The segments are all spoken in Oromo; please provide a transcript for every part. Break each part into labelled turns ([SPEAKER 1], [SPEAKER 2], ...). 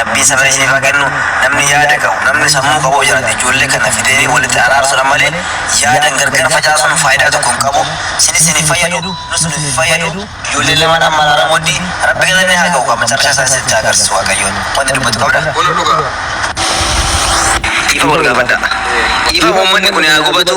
[SPEAKER 1] Rabbiin sabrii siif haa kennu namni yaada qabu namni sammuu qabu yoo jiraate ijoollee kana fidee walitti araarsuudha malee yaadan gargar facaasuun faayidaa tokko hin qabu sinis isin hin fayyadu nus nuuf hin fayyadu ijoolleen lamaan amma araaramuutti rabbi galanni haa ga'u amma carrashaa isaa isinitti haa agarsiisu waaqayyoon wanti dubbatu qabda Wal dhugaa. dhiifa wal gaafadha dhiifa uummanni kun haa gubatu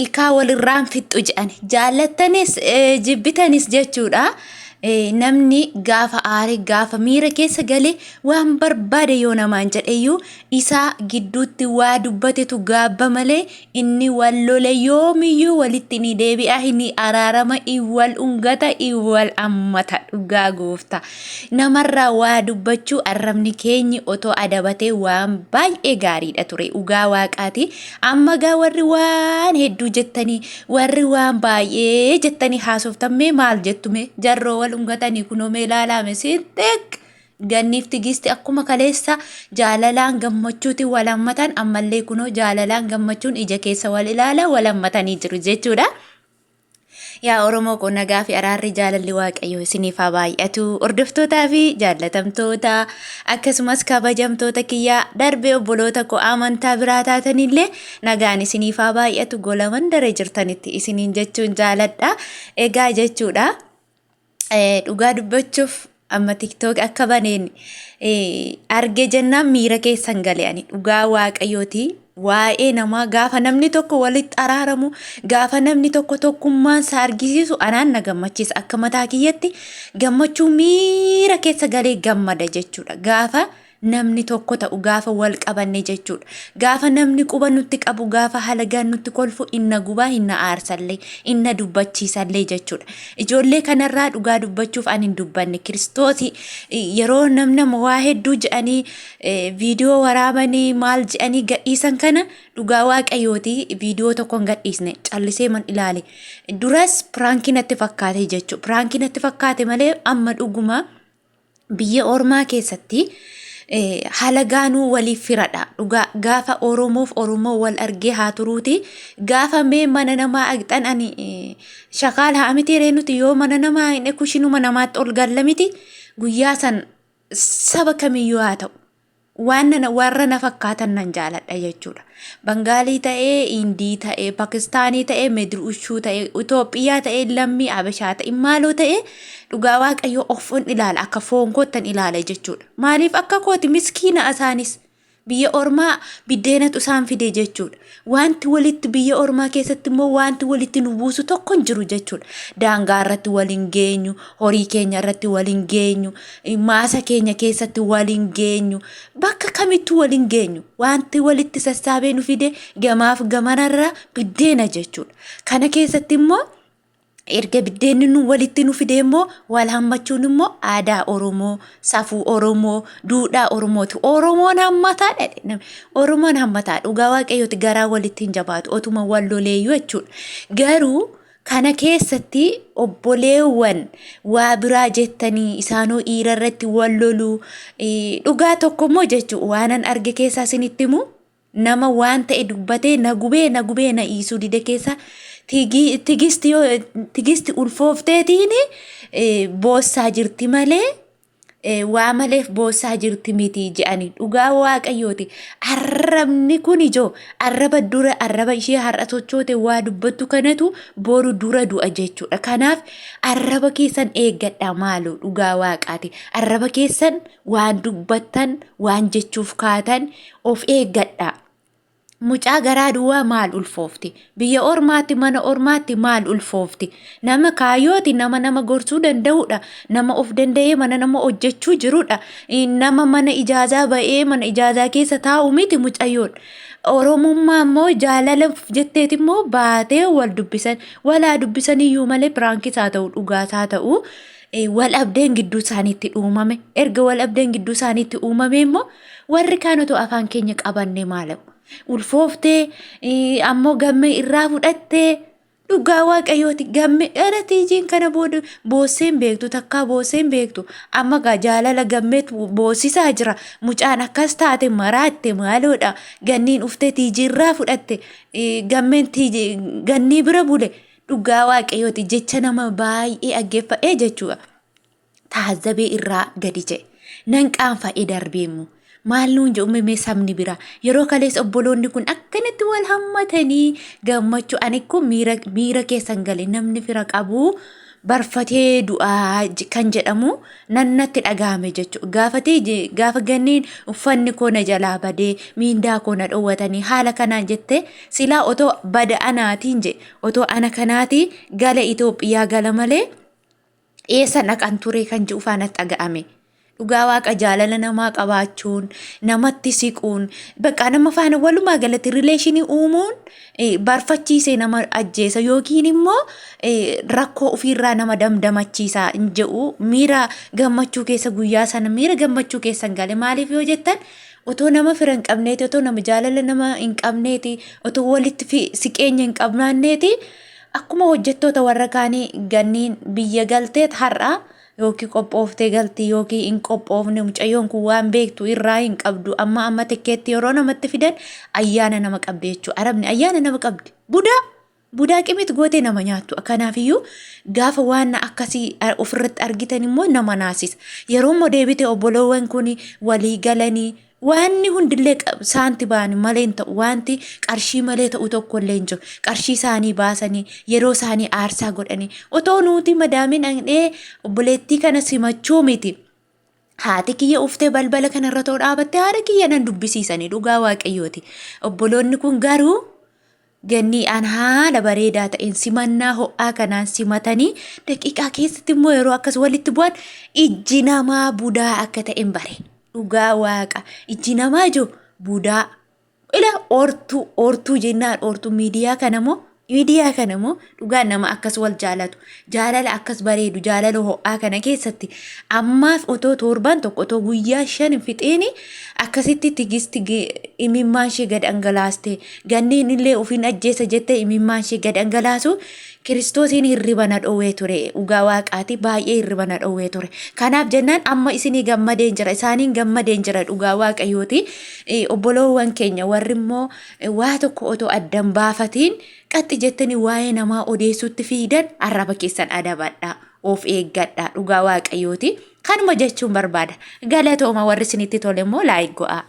[SPEAKER 2] ilkaa walirraan fixxu jedhani jaallattanis jibbitanis jechuudha. namni gaafa aare gaafa miira keessa gale waan barbaade yoo namaan jedheyyuu isaa gidduutti waa dubbatetu gaabba malee inni wal lole yoomiyyuu walitti ni deebi'a ni araarama wal ungata wal ammata dhugaa goofta namarraa waa dubbachuu arrabni keenyi otoo adabatee waan baay'ee gaariidha ture dhugaa waaqaati Amma gaa warri waan hedduu jettanii warri waan baay'ee jettanii haasoftan mee maal jettu mee jarroo wal ungatanii kunoo mee laalaame siinxeeq ganniif tigiisti akkuma kaleessa jaalalaan gammachuuti wal hammatan ammallee kunoo jaalalaan gammachuun ija keessa wal ilaala wal hammatanii jiru jechuudha. Yaa Oromoo koo nagaa fi araarri jaalalli Waaqayyoo isiniif haa baay'atu. Hordoftootaa fi jaallatamtoota akkasumas kabajamtoota kiyyaa darbee obboloota koo amantaa biraa taatanillee nagaan isiniif haa baay'atu gola mandara jirtanitti isiniin jechuun jaaladha. Egaa jechuudha. Dhugaa dubbachuuf amma tiktok akka baneen arge jennaan miira keessan gale ani dhugaa waaqayyooti waa'ee namaa gaafa namni tokko walitti araaramu gaafa namni tokko tokkummaan isaa argisiisu anaan na gammachiisa akka mataa kiyyatti gammachuu miira keessa galee gammada jechuudha gaafa namni tokko ta'u gaafa wal qabanne jechuudha. Gaafa namni quba nutti qabu gaafa halagaan nutti kolfu inna gubaa inna aarsallee inna dubbachiisallee jechuudha. Ijoollee kanarraa dhugaa dubbachuuf ani hin dubbanne kiristoos yeroo namna waa hedduu jedhanii viidiyoo waraabanii maal jedhanii gadhiisan kana dhugaa waaqayyooti viidiyoo tokko hin gadhiisne callisee man ilaale. Duras piraankii natti fakkaate jechuudha. Piraankii natti fakkaate malee amma dhugumaa. biyya ormaa keessatti halagaanuu waliif firadha. Dhugaa gaafa Oromoof Oromoo wal argee haa turuuti. Gaafa mee mana namaa agxan ani shakaal haa miti ree nuti yoo mana namaa hin ekushinuma namaatti ol galla miti guyyaa san saba kamiyyuu haa ta'u. waan nana warra na fakkaatan nan jaaladha jechuudha. Bangaalii ta'ee, Indii ta'ee, Pakistaanii ta'ee, Medruushuu ta'ee, Itoophiyaa ta'ee, lammii Abashaa ta'e, maaloo ta'ee dhugaa waaqayyoo ofin ilaala akka foon koottan ilaala jechuudha. Maaliif akka kooti miskiina isaanis biyya ormaa biddeenatu isaan fide jechuudha. Wanti walitti biyya ormaa keessatti immoo wanti walitti nu buusu tokko hin jiru jechuudha. Daangaa irratti wal hin geenyu, horii keenya irratti wal hin geenyu, maasa keenya keessatti wal hin geenyu, bakka kamittuu wal hin geenyu. Wanti walitti sassaabee nu fide gamaaf gamanarra biddeena jechuudha. Kana keessatti immoo erga biddeenni nu walitti nu fidee immoo wal hammachuun immoo aadaa Oromoo, safuu Oromoo, duudhaa Oromooti. Oromoon hammataa dha. jedhame. Oromoon hammataa dhugaa waaqayyooti garaa walitti hin jabaatu otuma wal loleeyyuu jechuudha. Garuu kana keessatti obboleewwan waa biraa jettanii isaanoo dhiira irratti wal loluu eh, dhugaa tokko immoo jechuudha waanan arge keessaa isinitti himu. nama waan ta'e dubbatee na gubee na gubee na iisuu dide keessa tigi- tigisti yoo tigisti ulfoofteetiin eh, boossaa jirti malee eh, waa maleef boossaa jirti miti je'ani dhugaa waaqayyooti arrabni kun ijoo arraba dura arraba ishee har'a sochoote waa dubbattu kanatu boru dura du'a jechuudha kanaaf arraba keessan eeggadha maaloo dhugaa waaqaati arraba keessan waan dubbattan waan jechuuf kaatan Of eeggadhaa! Mucaa garaa duwwaa maal ulfoofti? Biyya ormaatti mana ormaatti maal ulfoofti? Nama kaayooti nama nama gorsuu danda'udha. Nama of danda'ee mana nama hojjechuu jirudha. Nama mana ijaazaa ba'ee mana ijaazaa keessa taa'u miti mucayyoon. Oromummaa immoo jaalalaaf jetteeti immoo baatee wal dubbisan. Walaa dubbisaniyyuu malee piraankiis haa ta'u dhugaas haa ta'u wal abdeen gidduu isaaniitti uumame. Erga wal abdeen gidduu isaaniitti uumame immoo Warri kaan otoo afaan keenya qabannee maalamu. Ulfooftee eh, ammoo gammee irraa fudhattee dhugaa waaqayyooti gamme dhala tiijiin kana booda boossee hin beektu takkaa boossee hin beektu amma gaa jaalala gammeet boossisaa jira mucaan akkas taate maraatte maaloodha ganniin uftee tiijii irraa fudhatte eh, gammeen tiijii gannii bira bule dhugaa waaqayyooti jecha nama baay'ee aggeeffadhee jechuudha. taazabee irraa gadi ja'e. Nan qaanfa'ee darbee immoo maal nuun jedhu mee sabni biraa yeroo kalees obboloonni kun akkanatti wal hammatanii gammachuu ani kun miira miira keessan gale namni fira qabu barfatee du'aa j- kan jedhamu nan natti dhaga'ame jechuudha. Gaafatee je- gaafa ganneen uffanni koo na jalaa badee miindaa koo na dhowwatanii haala kanaan jettee silaa otoo bada anaatiin je otoo ana kanaatii gala Itoophiyaa gala malee eessa dhaqan turee kan ji'u faana dhaga'ame. Dhugaa waaqa jaalala namaa qabaachuun, namatti siquun, bakka nama faana walumaa galatti rileeshinii uumuun barfachiisee nama ajjeesa yookiin immoo rakkoo ofiirraa nama damdamachiisa hin jedhu miira gammachuu keessa guyyaa sana miira gammachuu keessa hin gale maaliif yoo jettan otoo nama fira hin qabneeti otoo nama jaalala nama hin qabneeti otoo walitti siqeenya hin qabnaanneeti Akkuma hojjettoota warra kaanii ganniin biyya galteet har'a yookiin qophooftee galti yookiin hin qophoofne mucayyoon kun waan beektu irraa hin qabdu amma amma tikkeetti yeroo namatti fidan ayyaana nama qabdi jechuudha arabni ayyaana nama qabdi budaa budaa qimit gootee nama nyaattu kanaafiyyuu gaafa waan akkasii ofirratti argitan immoo nama naasisa yeroo immoo deebite obboloowwan kun walii galanii Waanni hundillee qab- saanti ba'an malee hin ta'u. Waanti qarshii malee ta'u tokko illee hin jiru. Qarshii isaanii baasanii, yeroo isaanii aarsaa godhanii. Otoo nuti madaamii dhaqnee obboleettii kana simachuu miti. Haati kiyya uftee balbala kana irra too dhaabatte haadha kiyya nan dubbisiisanii dhugaa waaqayyooti. Obboloonni kun garuu Gannii an haala bareedaa ta'een simannaa ho'aa kanaan simatanii daqiiqaa keessatti immoo yeroo akkas walitti bu'an ijji namaa budaa akka ta'een bare. Dhugaa waaqa ijji namaa ijoo budaa. Ila oortuu oortuu jennaan oortuu miidiyaa kana moo miidiyaa kana moo Dhugaa nama akkas wal jaalatu, jaalala akkas bareedu, jaalala ho'aa kana keessatti ammaaf otoo torbaan tokko otoo guyyaa shan hin fixeeni akkasitti tigisti ge- imimmaan ishee gad dhangalaaste ganneen illee ofiin ajjeesa jette imimmaan ishee gad dhangalaasu kiristoosiin hirriba na dhowwee ture dhugaa waaqaati baay'ee hirriba na dhowwee ture kanaaf jennaan amma isinii gammadeen jira isaaniin gammadeen jira dhugaa waaqayyooti Eh, obboloowwan keenya warri immoo eh, waa tokko otoo addan baafatiin Qaxxi jettanii waa'ee namaa odeessuutti fiidan arraba keessan adabadha. Of eeggadha. Dhugaa waaqayyooti. Kanuma jechuun barbaada. Galatooma warri isinitti tole immoo laayik go'aa.